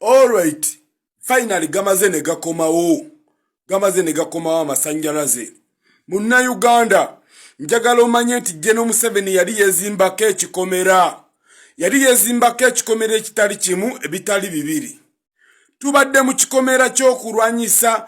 Alright, finally gamaze ne gakomawo. Gamaze ne gakomawo amasanjalaze. Munna Uganda, njagala omanye nti General Museveni yali yezimbako ekikomera. Yali yezimbako ekikomera ekitali kimu ebitali bibiri. Tubadde mu kikomera ky'okulwanyisa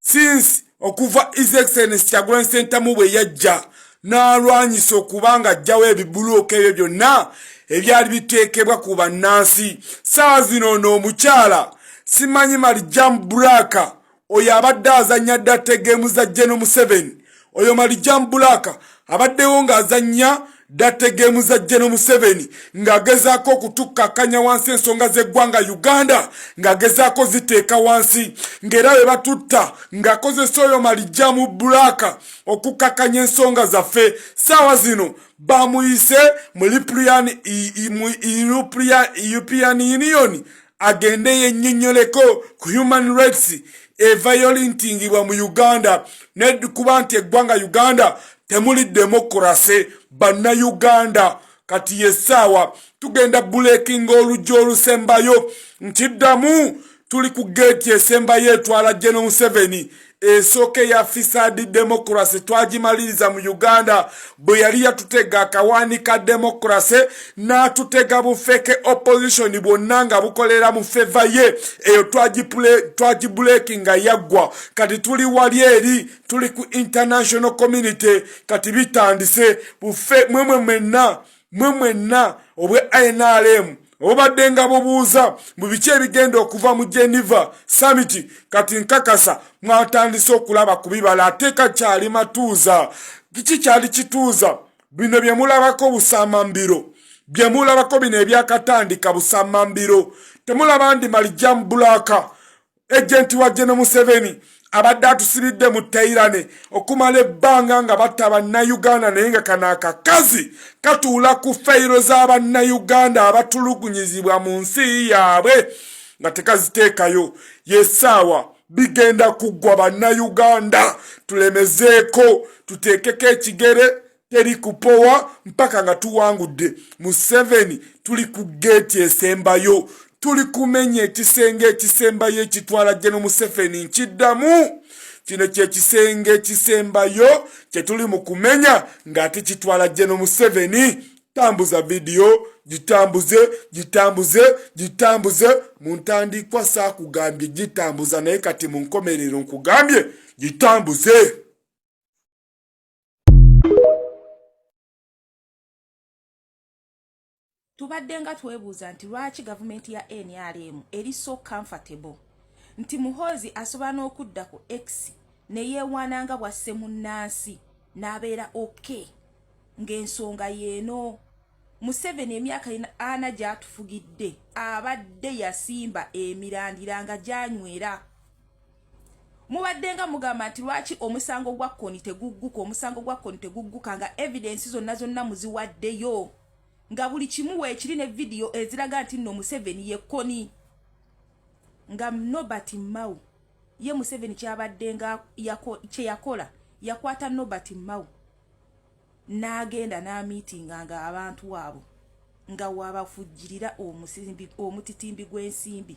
since okuva his excellence kyagulanyi sentamu bwe yajja n'alwanyisa okuba nga ajjawo ebibuluuka ebyo byonna ebyali biteekebwa ku bannansi saawa zino ono omukyala simanyi marijam braka oyo abadde azannya dda tegeemu za jeno museveni oyo malijam bulaka abaddewo ng'azannya date geemu za jeno museveni ng'agezaako okutukkakanya wansi ensonga z'eggwanga uganda ng'agezaako ziteeka wansi ng'era we batutta ng'akozesa oyo malijjamu bulaaka okukkakanya ensonga zaffe saawa zino bamuyise mu european union agende yennyonnyoleko ku human rights evayolintingibwa mu uganda nekuba nti eggwanga uganda temuli demokurase bannayuganda kati yesaawa tugenda bulekinga oluggi olusembayo nkiddamu tuli ku geeti esembayo etwala geno museveni esooka eya fisadi demokrase twagimaliriza mu uganda bwe yali yatutega akawaani ka demokrase n'atutega bufeke opposition bwonna nga bukolera mu feva ye eyo twagibuleki nga yaggwa kati tuli wali eri tuli ku international community kati bitandise bufe mwemwe mwenna mwe mwenna obwe nrm obadde nga bubuuza mu biki ebigenda okuva mu geneva summit kati nkakasa mwatandise okulaba ku bibala ateeka kyali matuuza kiki kyali kituuza bino bye mulabako busamambiro bye mulabako bino ebyakatandika busamambiro temulaba ndi malijamubulaaka ejenti wa geno museveni abadde atusibidde mu teirane okumala ebbanga nga batta bannayuganda naye nga kano akakazi katuula ku feyiro z'abannayuganda abatulugunyizibwa mu nsi yaabwe nga tekaziteekayo yesaawa bigenda kuggwa bannayuganda tulemezeeko tuteekeko ekigere teri kupowa mpaka nga tuwangudde museveni tuli ku geeti esembayo tuli kumenya ekisenge ekisembayo ekitwala jeno museveni nkiddamu kino kyekisenge ekisembayo kyetuli mu kumenya ng'ate kitwala jeno museveni tambuza vidiyo gitambuze gitambuze gitambuze mu ntandikwa saakugambye gitambuza naye kati mu nkomerero nkugambye gitambuze tubadde nga twebuuza nti lwaki gavumenti ya nrm eri so comfortable nti muhoozi asobola n'okudda ku x ne yeewaana nga bwasse munnansi n'abeera ok ng'ensonga yeeno museveni emyaka ana gyatufugidde abadde yasimba emirandira nga gyanywera mubadde nga mugamba nti lwaki omusango gwa koni tegugguka omusango gwa koni tegugguka nga evidensi zonna zonna muziwaddeyo nga buli kimu weekiri ne vidiyo eziraga nti nno museveni ye koni nga nobert mao ye museveni kyabadde nga kye yakola yakwata nobert mao n'agenda n'amiitinga nga abantu abo nga wabafujjirira omutitimbi gw'ensimbi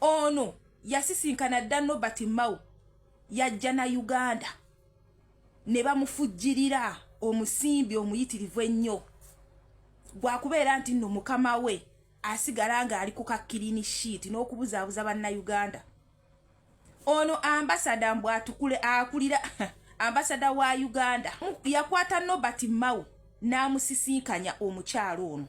ono yasisinkana dda nobert mao yajja na uganda ne bamufujjirira omusimbi omuyitirivu ennyo gwakubeera nti nno mukama we asigala ng'ali ku kakkirini shiiti n'okubuzaabuza bannayuganda ono ambasada mbu atukule akulira ambasada wa uganda yakwata nobert mao n'amusisinkanya omukyalo ono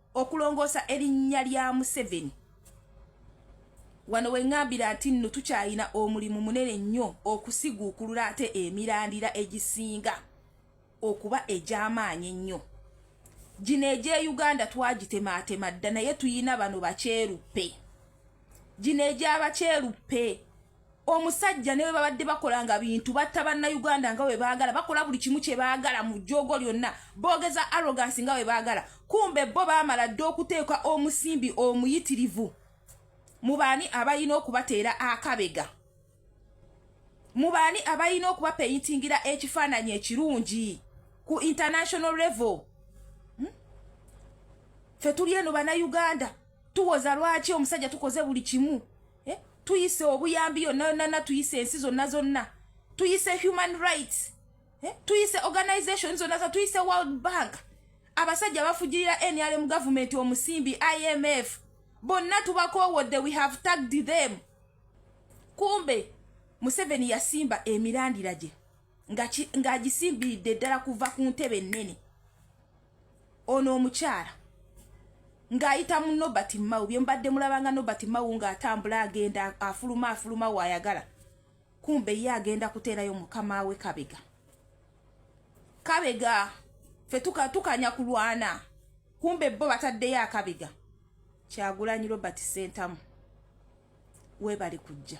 okulongoosa erinnya lya museveni wano wengambira nti nno tukyalina omulimu munene nnyo okusiguukulula ate emirandira egisinga okuba egy'amaanyi ennyo gino egye uganda twagitemaatema dda naye tuyina bano bakyeruppe gino egy'abakyeruppe omusajja ne bwe babadde bakola nga bintu batta bannayuganda nga bwe baagala bakola buli kimu kye baagala mu jjoogo lyonna boogeza arrogansi nga bwe baagala kumbe bo baamala dda okuteeka omusimbi omuyitirivu mu baani abalina okubateera akabega mu baani abalina okubapeyitingira ekifaananyi ekirungi ku international level hmm? fe tuli eno bannayuganda tuwoza lwaki omusajja tukoze buli kimu eh? tuyise obuyambi yonna yonnana tuyise ensi zonna zonna tuyise human rights eh? tuyise organization zonna za tuyise world bank abasajja bafugirira nrm government omusimbi imf bonna tubakowodde we have tagged them kumbe museveni yasimba emirandira gye ng'agisimbiridde ddala kuva ku ntebe ennene ono omukyala ng'ayita mu nobert mawu bye mubadde mulabanga nobert mawu ng'atambula agenda afuluma afuluma waayagala kumbe ye agenda kuteerayo mukama we kabega kabega fe tukanya kulwana kumbe bo bataddeyo akabega kyagulanyi robert sentamu weebali kujja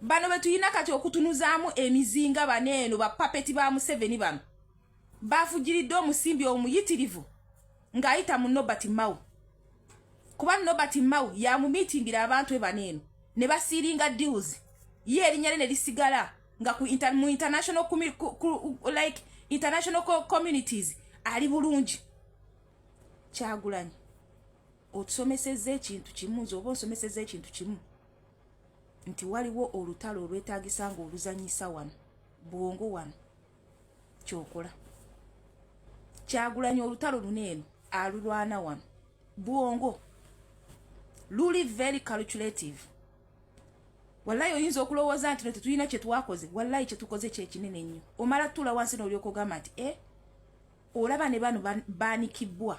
bano betuyina kati okutunuzaamu emizinga bano eno bapapeti ba museveni bano bafujiridde omusimbi omuyitirivu ng'ayita mu nobert mau kuba nobert mau yamumiitingira abantu e bano eno ne basiiringa deals ye erinnya lye ne lisigala nga ku inter, mu international ku, ku, like international communities ali bulungi kyagulanyi otusomeseza ekintu kimu nze oba onsomeseza ekintu kimu nti waliwo olutalo olwetagisa nga oluzanyisa wano bwongo wano kyokola kyagulanya olutalo luno eno alulwana wano bwongo luli very calculative wallayi oyinza okulowooza nti no tetulina kyetwakoze wallayi kyetukoze kyekinene nnyo omala tula wansi nolyokogamba nti e eh, olaba ne bano banikibwa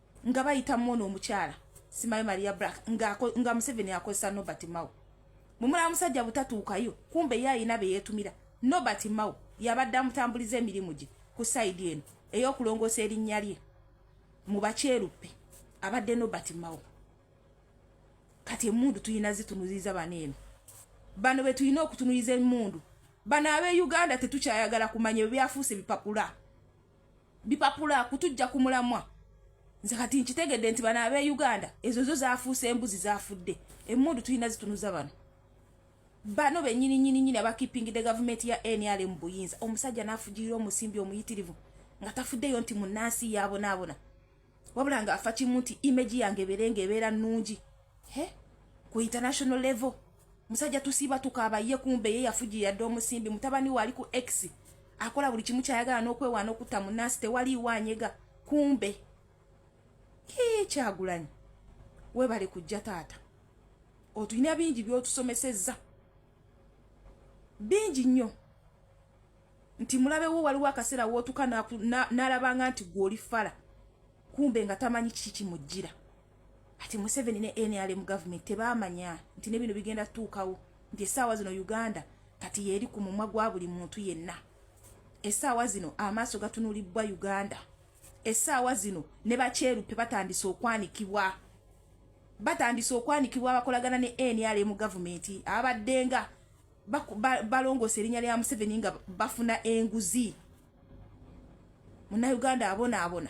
nga bayita mwono omukyala simayo maria black nga, nga museveni akozesa nobert mao mwemulaba musajja butatuukayo kumbe ye ayina beyetumira nobert mao yabadde amutambuliza emirimu gye ku saidi eno ey'okulongoosa erinnya lye mu bakyeruppe abadde nobert mao kati emundu tulina zitunuziza bano eno bano betulina okutunuliza emundu bano ab'e uganda tetukyayagala kumanya ebyafuusa ebipapula bipapula kutujja ku mulamwa nze kati nkitegedde nti bano ab'e uganda ezo zo zafuuse embuzi zafudde emmundu tulina zitunuza bano bano benyini nyini nyini abakipingidde gavumenti ya nrm buyinza omusajja nafugirira omusimbi omuyitirivu nga tafuddeyo nti munansi yabonaabona wabula nga afa kimu nti image yange ebeere nga ebeera nnungi he ku international level musajja tusiiba tukaaba ye kumbe ye yafuji yadde omusimbi mutabani we ali ku x akola buli kimu kyayagala n'okwewaana okutta munnansi tewaliiwo anyega kumbe kii kyagulanyi webale kujja taata otulina bingi byotusomesezza bingi nnyo nti mulabe wo waliwo akaseera wootuka n'alabanga nti gw'oli fala kumbe nga tamanyi kiki kimujjira ati museveni ne nrm government tebaamanya nti ne bino bigenda tuukawo nti essaawa zino uganda kati yeeri ku mumwa gwa buli muntu yenna essaawa zino amaaso gatunulibbwa uganda essaawa zino ne bakyerupe batandise okwanikibwa batandise okwanikibwa abakolagana ne nrm government abaddenga balongoosa erinnya lya museveni nga bafuna enguzi munauganda abonaabona